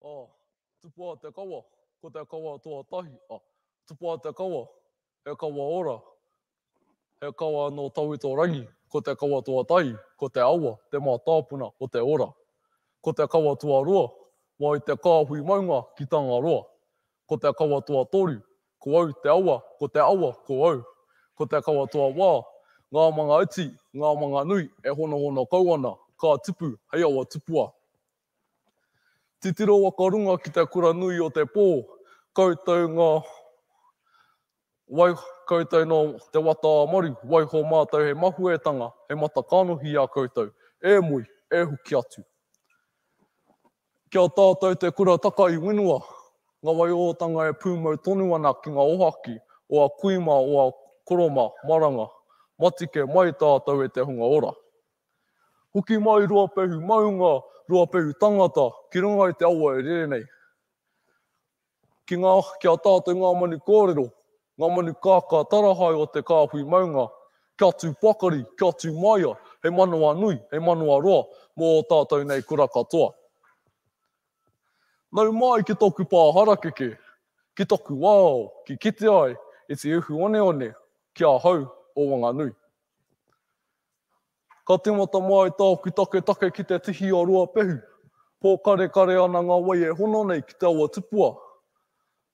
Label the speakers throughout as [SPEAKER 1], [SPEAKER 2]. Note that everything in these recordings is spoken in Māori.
[SPEAKER 1] Oh, tupua o te kawa, ko te kawa tuatahi. Oh, tupua o te kawa, he kawa ora, he kawa no Tawitorangi, ko te kawa tuatahi, ko te awa, te mātāpuna o te ora. Ko te kawa tuarua, mai te kāhui maunga ki Tangaroa. Ko te kawa toa toru, ko au te awa, ko te awa, ko au. Ko te kawa toa wā, ngā manga iti, ngā manga nui e honohono kau ana, ka tipu hei awa tupua. Titiro waka runga ki te kura nui o te pō, koutou ngā Wai koutou nō te wata a Maru, waiho mātou he mahuetanga, he mata kanohi i a koutou, e Mui, e Huki atu. Ki a tātou te kura taka i Whenua, nga wai ōtanga e pūmau tonu ana ki nga ohaki o a kui ma o a koro ma Maranga, matike mai tātou e te hunga ora. Huki mai Ruapehu maunga, Ruapehu tangata, ki runga i te awa e rere nei. Ki ngā, ki a tātou ngā manu kōrero, ngā manu kākā tarahae o te kāhui maunga, kia tū pakari, kia tū māia, he manawa nui, he manawa roa mō ō tātou nei kura katoa. Nau mai ki tōku pā harakeke, ki taku wao, ki kite ai e te uhu oneone ki ahau o Wanganui. Ka tīmata mai tāku taketake ki te tihi o Ruapehu. Pōkarekare ana ngā wai e hono nei ki te awa tupua.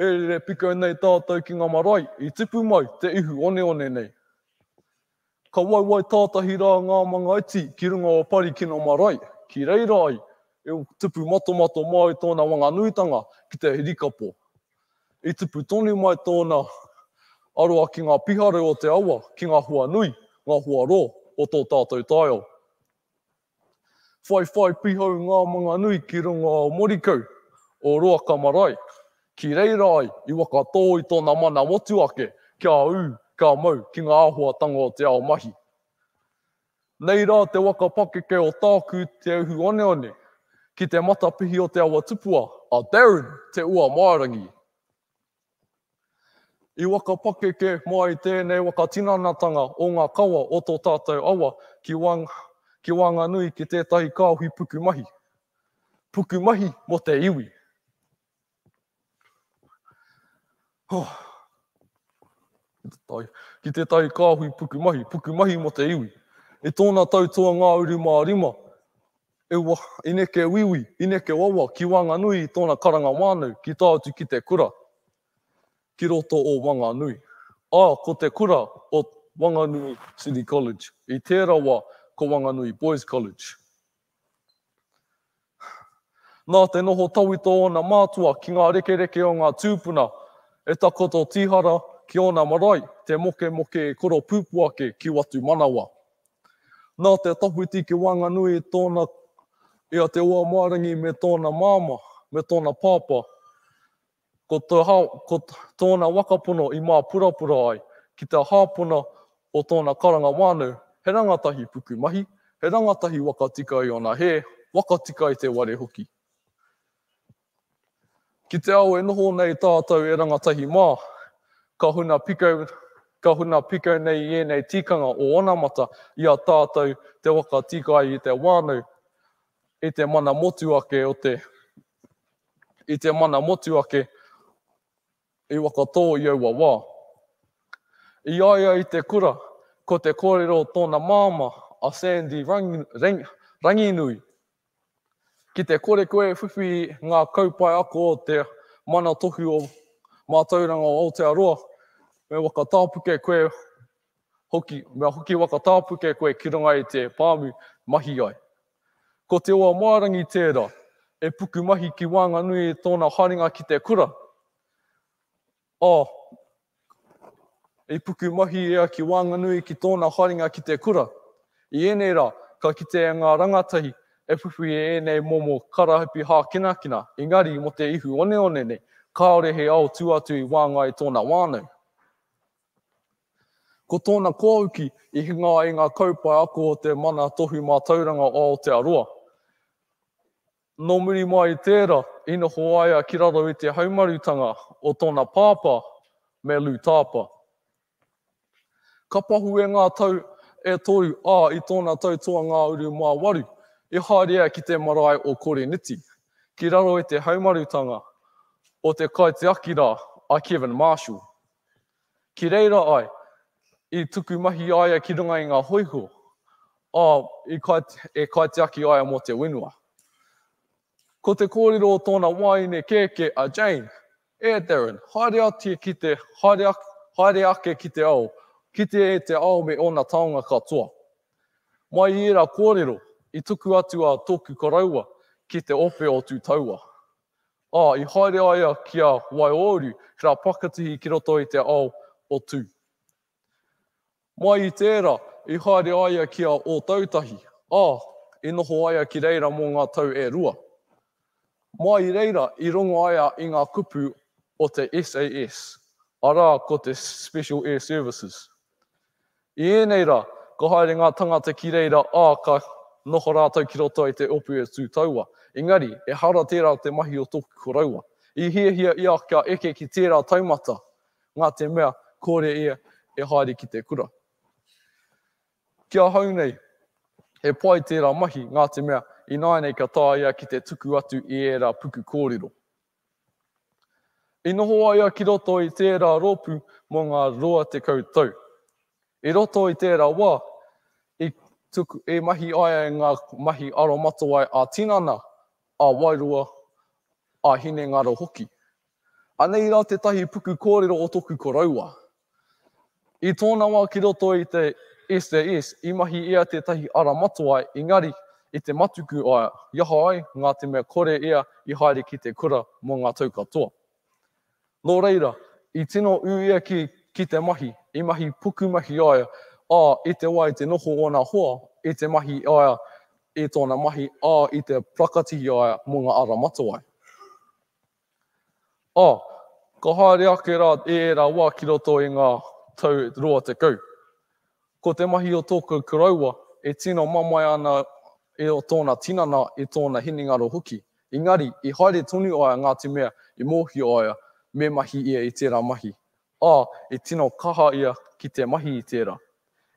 [SPEAKER 1] E rere piko nei tātou ki ngā marae i tipu mai te ihu oneone nei. Ka waiwai tātahi rā ngā manga iti ki runga o Parikino marae, ki reira ai e tupu matomato māu tōna wanganui-tanga ki te hirikapo. I tupu tonu mai tōna aroha ki ngā pihare o te awa, ki ngā hoa nui, ngā hoa rō o tō tātou taiao. Whai whai pīhau ngā manga nui ki runga o Morikau, o Roaka marae, ki reira ai i waka tō i tōna mana motuhake kia ū, kia mau ki ngā āhuatanga o te ao mahi. Nei rā te waka pakeke o tāku Te Uhu Oneone ki te matapihi o te awa tupua a Darren Te Uamārangi. I waka pakeke mai tēnei waka tinanatanga o ngā kawa o tō tātou awa ki wang, ki Whanganui ki tētahi kāohi pukumahi. Pukumahi mō te iwi. Oh. Ki tētahi kāhui pukumahi, pukumahi mo te iwi. I tōna tau toa ngā uru mā rima, e wa, i neke wiwi, i neke wawa ki Wanganui i tōna karanga wānau ki tā atu ki te kura, ki roto o Wanganui. Ā, ko te kura o Wanganui City College, i tēra wa ko Wanganui Boys College. Nā te noho tawhito o ōna mātua ki ngā rekereke o ngā tūpuna, e takoto tīhara ki ōna marae te mokemoke e koropūpū ake ki Watumanawa. Nā te tawhiti ki waenganui i tōna i a Te Oamaerangi me tōna māmā, me tōna pāpā, Ko to ha, ko tōna wakapono i māpurapura ai ki te hāpona o tōna karanga whānau, he rangatahi pukumahi, he rangatahi wakatika i ōna hē, wakatika i te ware hoki. Ki te ao e noho nei tātou e rangatahi mā, ka huna pikau, ka huna pikau nei i ēnei tikanga o onamata i a tātou te wakatika ai i te whānau, i te mana motu ake o te I te mana motuake i Wakatō i aua wā. I a ia i te kura, ko te kōrero o tōna māmā, a Sandy Ranginui, Ki te kore koe e whiwhi i ngā kaupae ako o te Mana Tohu o Mātauranga o Aotearoa, me wakatāpuke koe hoki, me hoki wakatāpuke koe ki runga i te pāmu, mahi ai. Ko Te Oamaerangi tērā e pukumahi ki waenganui i tōna haerenga ki te kura. Oh, i pukumahi ia ki waenganui ki tōna haerenga ki te kura. I ēnei rā, ka kitea ngā rangatahi e whiwhi e ēnei momo karahipi hākinakina, engari mō te ihu oneone nei, kāore he ao tū atu i waenga i tōna whānau. Ko tōna kōuki, i hinga ai ngā kaupae ako o te Mana Tohu Mātauranga o Aotearoa. Nō muri mai i tērā, i noho ai a ki raro i te haumarutanga o tōna pāpā me Lou Tāpa. Ka pahue ngā tau e toru, ā, i tōna tau toa-ngā-uru mā waru, i haere ia ki te marae o Koriniti, ki raro i te haumarutanga o te kaitiaki rā a Kevin Marshall. Ki reira ai, i tuku mahi a ia ki runga i ngā hoiho, ā, i kai, e kaitiaki aia mō te whenua. Ko te kōrero o tōna wāine kēkē a Jane, E Darren, haere ati ki te, haere, haere ake ki te ao, kite e te ao me ōna taonga katoa. Mai i ērā kōrero, i tuku atu a tōku koroua ki te ope o Tūtaua. Ā, i haere a ia ki a Waiōuru, ki rā Pakatihi ki roto i te ao o Tū. Mai i tērā, i haere a ia ki a Ōtautahi, ā, i noho a ia ki reira mō ngā tau e rua. Mai i reira, i rongo a ia i ngā kupu o te SAS, arā, ko te Special Air Services. I ēnei rā, ka haere ngā tangata ki reira, ā, ka noho rātou ki roto i te opu e tū taua. Engari, ehara tērā te mahi o tōku koroua. I hiahia ia kia eke ki tērā taumata, nā te mea, kore ia e haere ki te kura. Ki ahau nei, he pai tērā mahi, nā te mea, ināianei ka taea ia ki te tuku atu i ērā puku kōrero. I noho a ia ki roto i tērā rōpū mō ngā rua tekau tau. I roto i tērā wā, i tuku e mahi ai ai ngā mahi aromatawai ā-tinana, ā-wairua, ā-hinengaro hoki. Anei rā tētahi puku kōrero o tōku koroua, I tōna wā ki roto i te SAS, i mahi ia tētahi ara matua, engari, i te matuku a ia, i aha ai ngā te mea kore ia i haere ki te kura mō ngā tau katoa. Nō reira, i tino ū ia ki, ki te mahi, i mahi pukumahi a ia, ā, i te wā i te noho ōna hoa, i te mahi a ia i tōna mahi, ā, i te prakatihi a ia mō ngā ara matawai. Ā, ka haere ake rā e ērā wā ki roto i ngā tau rua tekau. Ko te mahi o tōku koroua e tino mamae ana i o tōna tinana i tōna hinengaro hoki, engari i haere tonu ai a Ngāti Mea i mōhio ai me mahi ia i tērā mahi. ā, i tino kaha ia ki te mahi i tērā.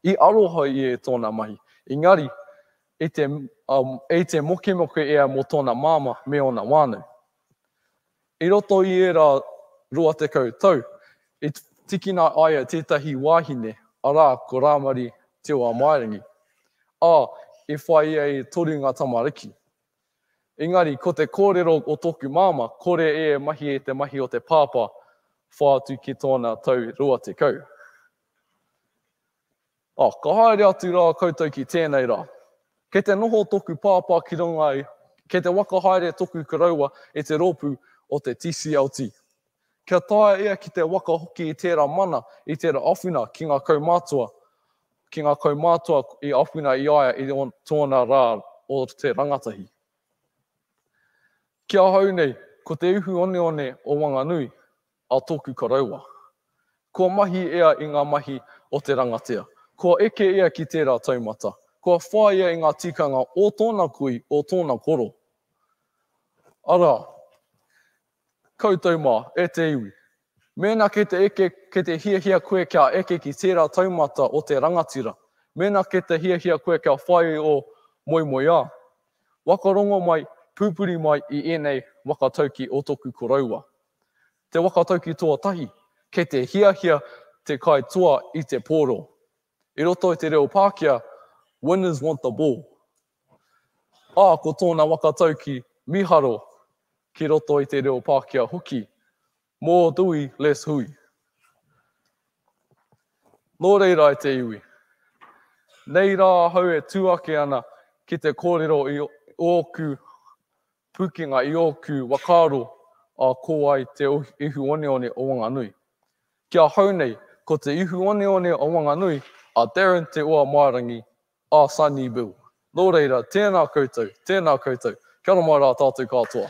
[SPEAKER 1] I aroha ia e tōna mahi, engari, i te, ā, i te mokemoke ia mō tōna māmā me ōna whānau. I roto i ērā rua tekau tau, i tīkina a ia tētahi wāhine, arā, ko Rāmari Te Oamaerangi, ā, i whāia e toru ngā tamariki. Engari, ko te kōrero o tōku māmā, kore e mahi e te mahi o te pāpā, whā atu ki tōna tau rua tekau. Oh, ka haere atu rā koutou ki tēnei rā. Kei te noho tōku pāpā ki runga i, kei te waka haere tōku koroua e te rōpū o te TCLT. Kia taea ia ki te waka hoki i tērā mana, i tērā awhina ki ngā kaumātua, ki ngā kaumātua i awhina i a ia i tōna rā o te rangatahi. Ki ahau nei, ko te uhu oneone o Wanganui a tōku koroua. Kua mahi ia i ngā mahi o te rangatea, kua eke ia ki tērā taumata, kua whai ia i ngā tikanga o tōna kui, o tōna koro. Arā, Koutou mā, e te iwi. Mēnā kei te eke, kei te hiahia koe kia eke ki tērā taumata o te rangatira, mēnā kei te hiahia koe kia whai ō moemoeā, waka rongo mai, pūpuri mai i ēnei waka tauki o tōku koroua. Te waka tauki toa tahi, kei te hiahia te kai toa i te pōro. I roto i te reo Pākehā, Winners want the ball. Ā, ko tōna waka tauki mīharo ki roto i te reo Pākehā hoki, Mō Dewey Les Hui. Nō reira e te iwi, nei rā ahau e tū ake ana ki te kōrero i ōku pūkenga, i ōku whakaaro ā ko ai te ihu oneone o Wanganui. Ki ahau nei, ko te ihu oneone o Wanganui a Darren Te Oamārangi a Sonny Bill. Nō reira, tēnā koutou, tēnā koutou. Kia ora mai rā tātou kātoa.